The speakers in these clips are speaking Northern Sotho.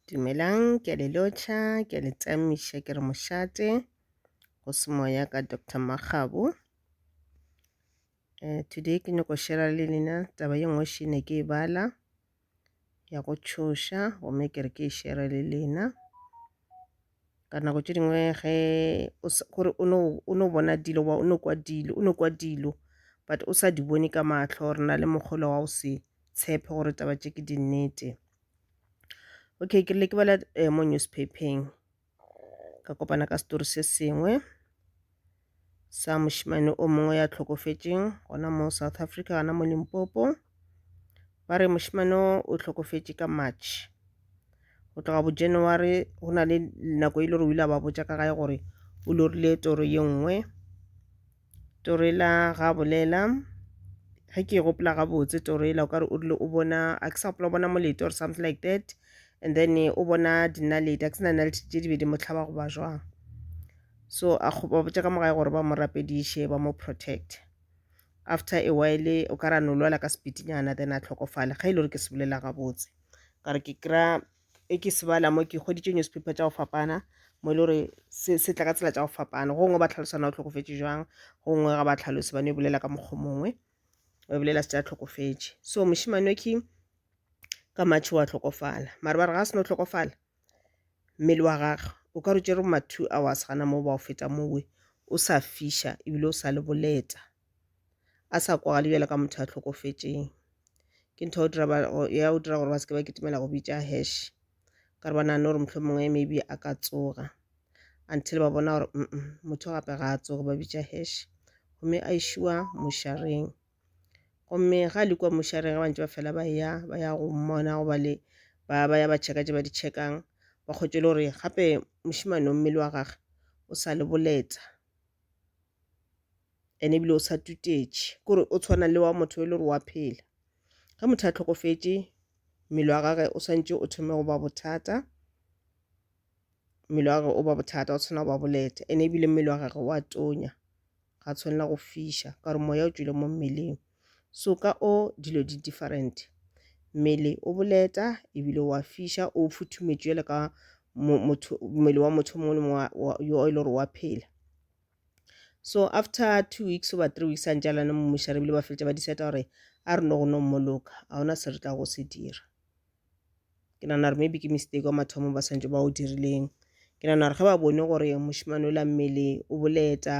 Dumelang, ke a le lotšha, ke a le tsamiša, ke re mošate go se moya ka Doctor Makgabo. Eh, today ke nyako shera le lena taba ye nngwe šene ke e bala ya go tšhoša gomme ke re ke e shere le lena. ka nako tše dingwe ge o s- gore o no o no bona dilo wa o no kwa dilo o no kwa dilo but o sa di bone ka mahlo re na le mokgolo wa go se tshepe gore taba tše ke di nnete okay ke rile ke bala eh, mo newspapeng ka kopana ka story se sengwe sa mošemane o mongwe ya tlhokofetšeng gona mo South Africa gona mo Limpopo. Ba re mošemane o o tlhokofetše ka March. Go tloga bo January go na le nako e le gore o ile a ba botša ka gae gore o lorile toro ye nngwe. Toro e la ga bolela ge ke e gopola gabotse toro e la o kare o rile o bona a ke sa gopola o bona molete or something like that and then o bona dinaledi a ke se na naledi tše di be di mo tlhaba goba jwang. so a ba botša ka mogae gore ba mo rapediše ba mo protect after a while o ka ra no lwala ka sepitinyana then a tlhokofale ga e le gore ke se bolela gabotse ka re ke kry-a e ke se bala mo ke goditše newspaper tša go fapana mo e le gore se se tla ka tsela tša go fapana gongwe ba tlhalosana o tlhokofetše jwang gongwe ga ba tlhalose ba ne e bolela ka mokgwa mongwe ba bolela se tša tlhokofetše so mošimane wa king ka matšhe wa tlhokofala mare ba re ga se no tlhokofala mmele wa gagwe o ka re tšere ma two hours gana moo ba o feta mowe o sa fiša ebile o sa le boleta a sa kwagale bjalo ka motho a hlokofetšeng ke ntho ya go dira gore ba seke ba kitimela go bitša hash ka re ba nagane gore mohlho mongwe maybe a ka tsoga until ba bona gore motho gape ga a tsoge ba bitša hash gomme a išwa moshareng. gomme ga le kua mošareng ga bantse ba fela ba ya ba ya go mmona go ba le ba ba ya ba tšheka tše ba di tšhekang ba kgwetše le gore gape mošemane o mmele wa gage o sa le boletsa ene ebile o sa tutetše kore o tshwana le wa motho e le gore wa phela ge motho a tlhokofetše mmele wa gage o swantše o thome go ba bothata mmele wa gage o ba bothata o tshwana go ba boleta ene ebile mmele wa gage wa tonya ga tshwanela go fiša ka gore moya o tšwile mo mmeleng so ka o dilo di different mmele o boleta ebile wa fiša o futhumetšwe jale ka mmele wa motho mongwe le mongwe yo e le gore wa phela so after two weeks oba three weeks a ntse a lane mmušare ebile ba feletša ba diseta gore a re no go no mmoloka ga gona se re tla go se dira ke nana gore maybe ke mistake wa mathomo ba swantse ba o dirileng ke nana gore ge ba bone gore mošimane o la mmele o boleta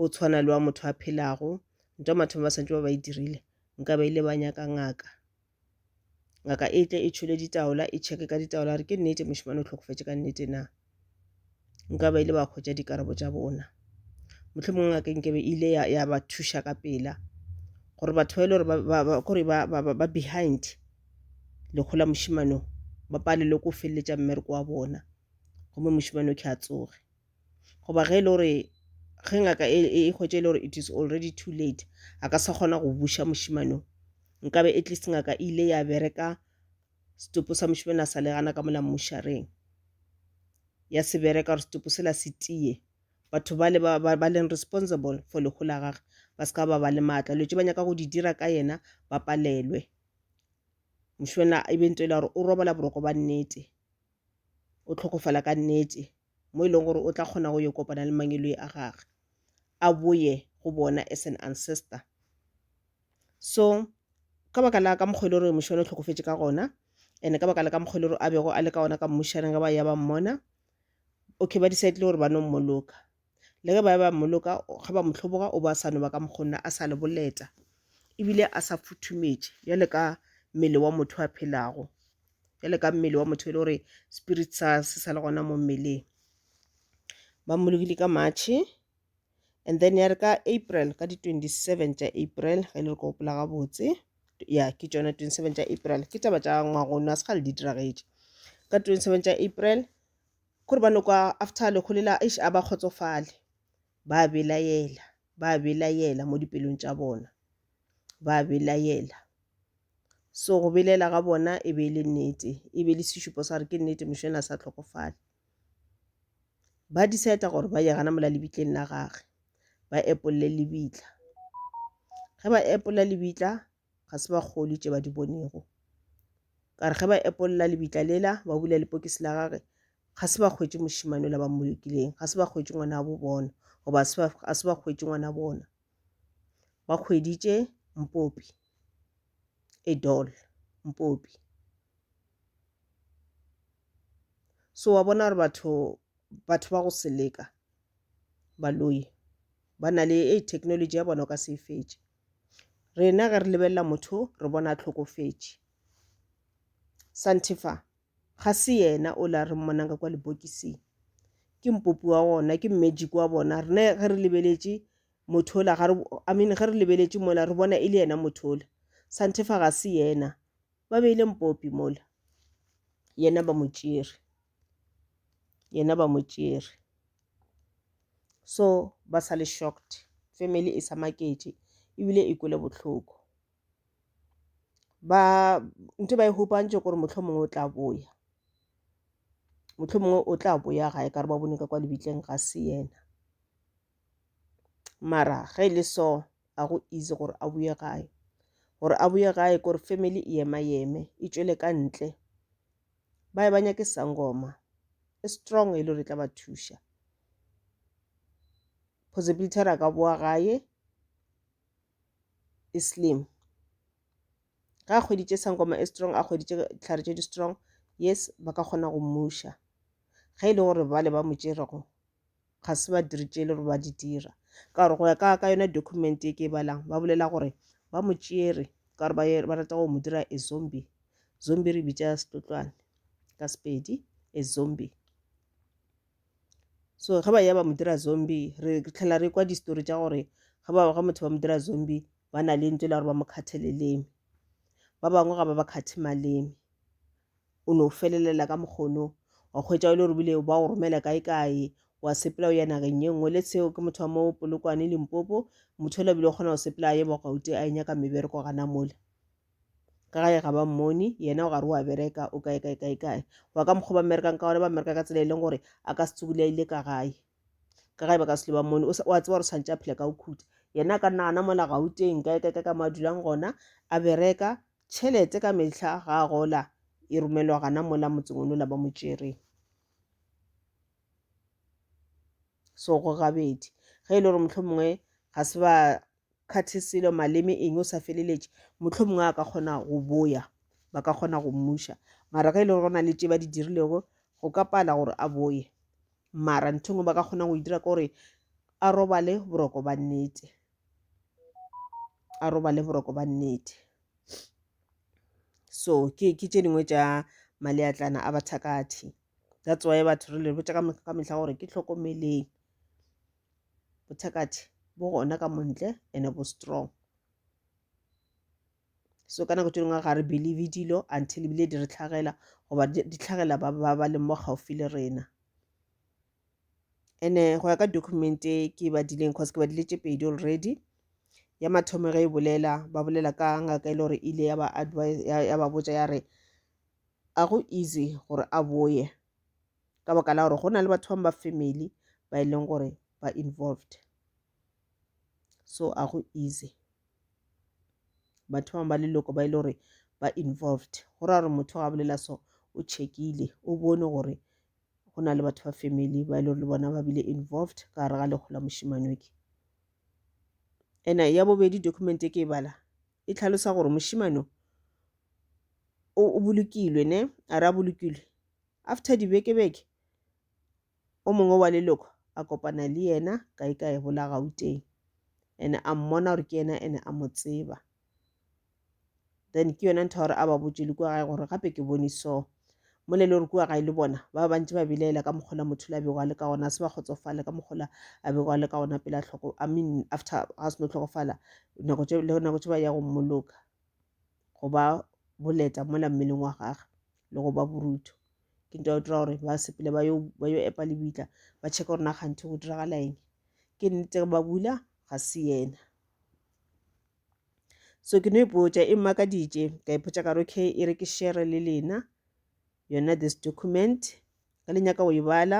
o tshwana le wa motho a phelago ntwa mathomo ba swantse ba ba e dirile nka ba ile ba nyaka ngaka ngaka e tle e tšhole ditaola e checke ka ditaola gore ke nnete mošimane o tlhokofetse ka nnete na nka ba ile ba hwetša dikarabo tša bona mohlomong ngaka nke be ile ya, ya ba thuša ka pela gore batho ba e le gore ba, ba, ba, kore ba, ba, ba, ba behind lekgo la mošimano ba palelwe ko feleletša mmereko wa bona gomme mošimano ke a tsoge goba ge e le gore ge ngaka e, e, e hwetše e le gore it is already too late a ka sa kgona go buša mošimano nkabe at least ngaka e ile ya bereka Setopo sa mošemane a sa le gana ka mola mmušareng. Ya se bereka gore setopo sela se tiye. Batho ba le ba, ba, ba leng responsible for lehu la gage ba se ka ba ba le maatla. Dilo tše ba nyaka go di dira ka yena ba palelwe. Mošemane e be ntho e le gore o robala boroko ba nnete. O tlhokofala ka nnete mo e leng gore o tla kgona go yo kopana le mangeloi a gage a boye go bona as an ancestor so ka baka la ka mokgwa e le gore mošwana o tlhokofetše ka gona and ka baka la ka mokgwa e le gore a bego a le ka gona ka mmušaneng ge ba ya ba mmona okay ba decidile gore ba no mmoloka le ge ba ya ba mmoloka ge ba mo tlhoboga o ba sa no ba ka mokgwa nna a sa le boleta ebile a sa futhumetše bjale ka mmele wa motho a phelago bjale ka mmele wa motho e le gore spirit sa se sa le gona mo mmeleng ba mmolokile ka matšhe and then ya re ka april ka di 27 tša april ge e le re ko gopola gabotse ya ke tšona 27 tša april ke taba tša ngwagono a se gale di diragetše ka 27 tša april kore ba nokwa after lekgo lela eish a ba kgotsofale ba belaela ba belaela mo dipelong tša bona ba belaela so go belela ga bona e be e le nnete e be le sešupo sa re ke nnete mošwena sa tlhokofale ba decide gore ba ya gana mola lebitleng la gage ba epolle lebitla ge ba epolla lebitla ga se ba kgoli tše ba di bonego ka re ge ba epolla lebitla lela ba bula lepokisi la gage ga se ba kgwetše mošimane la ba mmolokileng ga se ba kgwetše ngwana wa bo bona goba a se ba kgwetše ngwana bona ba hweditše Mpopi, a doll, Mpopi. So wa bona gore batho batho ba go seleka baloi ba na le e technology ya bona o ka se e fetše rena ge re lebelela motho re bona a tlhokofetše santefa Ga se yena o le a re mmonang ka kwa lebokising. Ke mpopi wa gona, ke magic wa bona. Rena ge re lebeletše motho ola, ga re, I mean, ge re lebeletše mola, re bona e le yena motho ola. Santefa ga se yena. Ba beile mpopi mola. Yena ba mo tšere. Yena ba mo tšere. So ba sa le shocked. Family e sa maketše ebile e kwele bohloko. ba ntho e ba e hupantše kore motlho mongwe o tla boya motlho mongwe o tla boya gae ka re ba bone ka kwa lebitleng ga se yena mara ge e le so a go easy gore a boye gae gore a boye gae kore family e ema eme e tšwele ka ntle ba e banya ke sangoma e strong e le gore e tla ba thuša possibility re a ka boa gae Islim ge a hweditše sangoma e strong a hweditše dihlare tše di strong yes ba ka kgona go mmuša ge e le gore bale ba mo tšerego ga se ba diri tše e le gore ba di dira ka gore go ya ka ka yona document e ke e balang ba bolela gore ba mo tšere ka gore ba rata go mo dira e zombie zombie re bitša setlotlwane ka sepedi e zombie so ge ba ya ba mo dira zombie re tlhela re kwa distory tša gore ge ba ga motho ba mo dira zombie ba na le ntse le gore ba mo kgathe leleme ba bangwe ga ba ba kgathe maleme o no felelela ka mokgono wa kgwetsa e le gore bile ba o romela kae kae wa sepela o ya nageng ye nngwe le seo ke motho wa mo polokwane limpopo motho o labile o kgona go sepela a ye bogauti a e nyaka mebereko gana mole ka gae ga ba mmone yena o gare o a bereka o kae kae kae kae wa ka mokgwa ba mmerekang ka gona ba mmereka ka tsela e leng gore a ka se tsebole a ile ka gae ka gae ba ka sele ba mmone o a tseba gore tshwanetse a phela ka o khuta yena a ka nna gana mola gauteng kae kae kae ka mo a dulang gona a bereka tšhelete ka metlha ga a gola e romelwa gana mola motseng o nola ba mo tšereng so go gabedi ge e le gore motlho mongwe ga se ba kgathe selo, maleme eng, o sa feleletše, mohlomongwe a ka kgona go boya, ba ka kgona go mmuša. Mara ge e le gore go na le tše ba di dirilego, go ka pala gore a boye. Mara ntho engwe ba ka kgonang go e dira ke gore a robale boroko ba nnete, a robale boroko ba nnete. So ke ke tše dingwe tša maleatlana a bathakathi. That's why batho re le botša ka mehla gore ke hlokomeleng. bothakathe bo gona ka montle ene bo strong so ka nako tse dingwe ga re believe dilo until ebile di re tlhagela goba di tlhagela ba ba leng mo gaufi le rena ene go ya ka document e ke ba dileng cause ke ba dile tše pedi already ya mathomo ge e bolela ba bolela ka ngaka e le gore e ile ya ba advise ya ba botsa ya re a go easy gore a boye ka baka la gore go na le batho bangwe ba family ba e leng gore ba involved so a go easy batho bangwe ba leloko ba e le gore ba involved go ra gore motho ga bolela so o checkile o bone gore go na le batho ba family ba e le gore le bona ba bile involved ka gare ga lekgola mošimanoke ena ya bobedi document e ke e bala e tlhalosa gore mošimano o bolokilwe ne a re a bolokilwe After dibeke-beke, o mongwe wa leloko a kopana le yena kae kae bola Gauteng. Ene a mmona gore ke yena ene a mo tseba. Then ke yona ntho ya gore a ba botše le kua gae gore gape ke bone so. Mo le le gore kua gae le bona ba bantši ba bilaela ka mokgola motho la bego a le ka gona se ba kgotsofale ka mokgola a bego a le ka gona pela tlhoko I mean after ga se no tlhokofala nako tše le nako tše ba ya go mmoloka go ba boleta mola mmeleng wa gagwe. le go ba borutho ke nto dira gore ba sepele ba yo ba yo epa lebitla ba check gore na kganthe go diragala eng ke nnete ba bula ga se yena so ke no ipotša e mmaka dj ka ipotša ka re okay e re ke share le lena yona this document ka le nyaka go e bala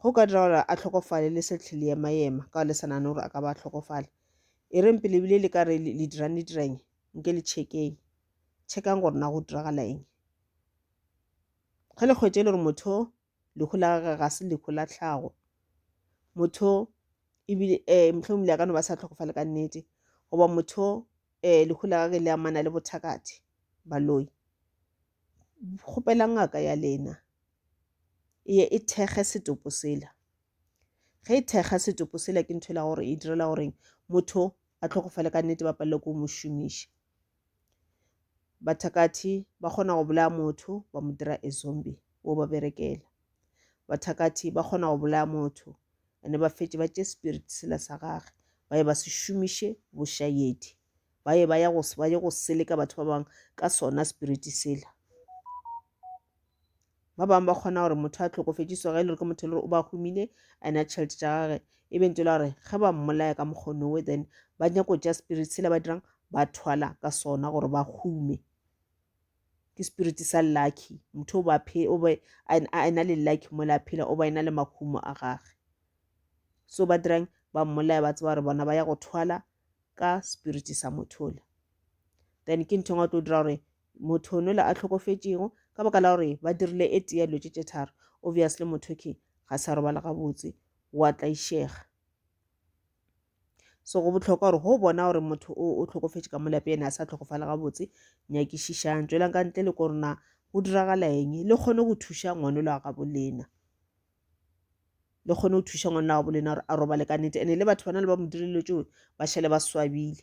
Go ka dira gore a tlhokofale le se tlhe le ema-ema ka le sa nane gore a ka ba a tlhokofala. E reng pele ebile le ka re le dirang le dirang nke le check-eng. Check-ang gore na go diragala eng. Ge le kgwetše le gore motho lehu la gage ga se lehu la tlhago, motho ebile mohlomongwe ebile a ka no ba sa tlhokofale ka nnete goba motho lehu la gage le amana le bothakathe, baloi, kgopelang ngaka ya lena e ye e thekge setopo sela ge e thekga setopo sela ke ntho e la gore e direla goreng motho a tlhokofale ka nnete ba palele ko mo šomiša bathakathi ba kgona go bolaya motho ba mo dira e zombie wo ba berekela bathakathi ba kgona go bolaya motho ande ba fetše ba tše spirit sela sa gage ba ye ba se šomiše bošayedi ba ye ba ya go ba ye go seleka batho ba bangwe ka sona spirit sela ba bangwe ba kgona gore motho a tlhokofetše so ge e le gore ke motho e le gore o ba humile and a tšhelete tša gage e bentse e le gore ge ba mmolaya ka mokgonowe then ba nyako tša spirit sela ba dirang ba thwala ka sona gore ba hume ke spirit sa lucky motho o be a ena le lucky mo la phela o ba ena le mahumo a gage so ba dirang ba mmolaya ba tseba gore bona ba ya go thwala ka spirit sa motho le then ke nthong a tlo dira gore motho ono le a hlokofetšego ka baka la gore ba dirile e tea dilo tše tše tharo obviously motho ke ga sa robala gabotse wa tlaišega so go botlhokwa gore go bona gore motho o o tlhokofetše ka molape ene a sa tlhokofale gabotse nyakišišang tswelang ka ntle le korona go diragala eng le kgone go thuša ngwane lo a gabo lena le kgone go thuša ngwane lo a gabo lena gore a robale ka nete ene le batho bana le ba mo direlelo tšeo ba šale ba swabile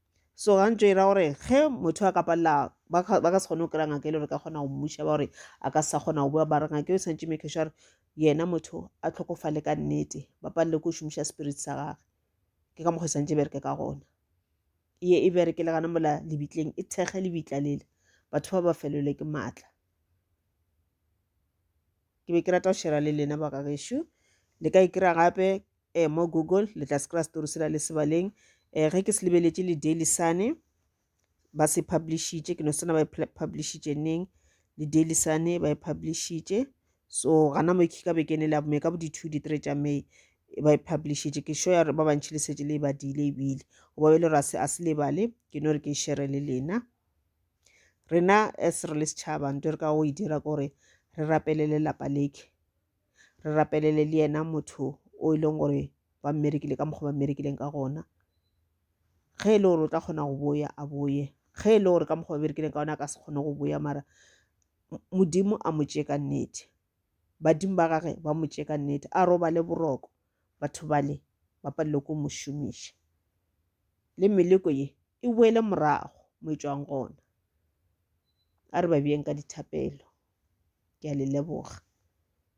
so gantso e ra gore ge motho a ka palela ba ka se kgone go kry-a ngaka e le gore ka kgona go mmuša ba gore a ka sa kgona go bua mara ngaka e o tshwanetse make sure gore yena motho a tlhokofale ka nnete ba palele ko šomiša spirit sa gage ke ka mokgwa e tshwanetse e bereke ka gona ye e bereke le gana mola lebitleng e thekge lebitla lele batho ba ba felelwe ke maatla ke be ke rata go shera le lena baka gešo le ka e kry-a gape eh, mo google le tla se kry-a story sela le sebaleng um ge ke se lebeletše le daily sane ba se publishitše ke no sena ba e publishitše neng le daily sane ba e publishitše so gana mo ka be ke ne le abome ka bo di-two di-three tša may e ba e publishitše ke sure ya gore ba bantšhi le setse le e badile ebile go ba be le gore a se lebale ke no re ke e shere le lena rena as re le setšhaba nto re ka go e dira kore re rapelele lapa leke re rapelele le yena motho o e leng gore ba mmerekile ka mokgwa ba mmerekileng ka gona ge e le gore o tla kgona go boya a boye ge e le gore ka mokgwa ba berekileng ka gona a ka se kgone go boya mara modimo a mo tšee ka nnete badimo ba gage ba mo tšee ka nnete a robale boroko batho bale ba palelwe ko mo šomiša le meleko ye e boele morago mo e tswang gona a re ba bjeng ka dithapelo ke a le leboga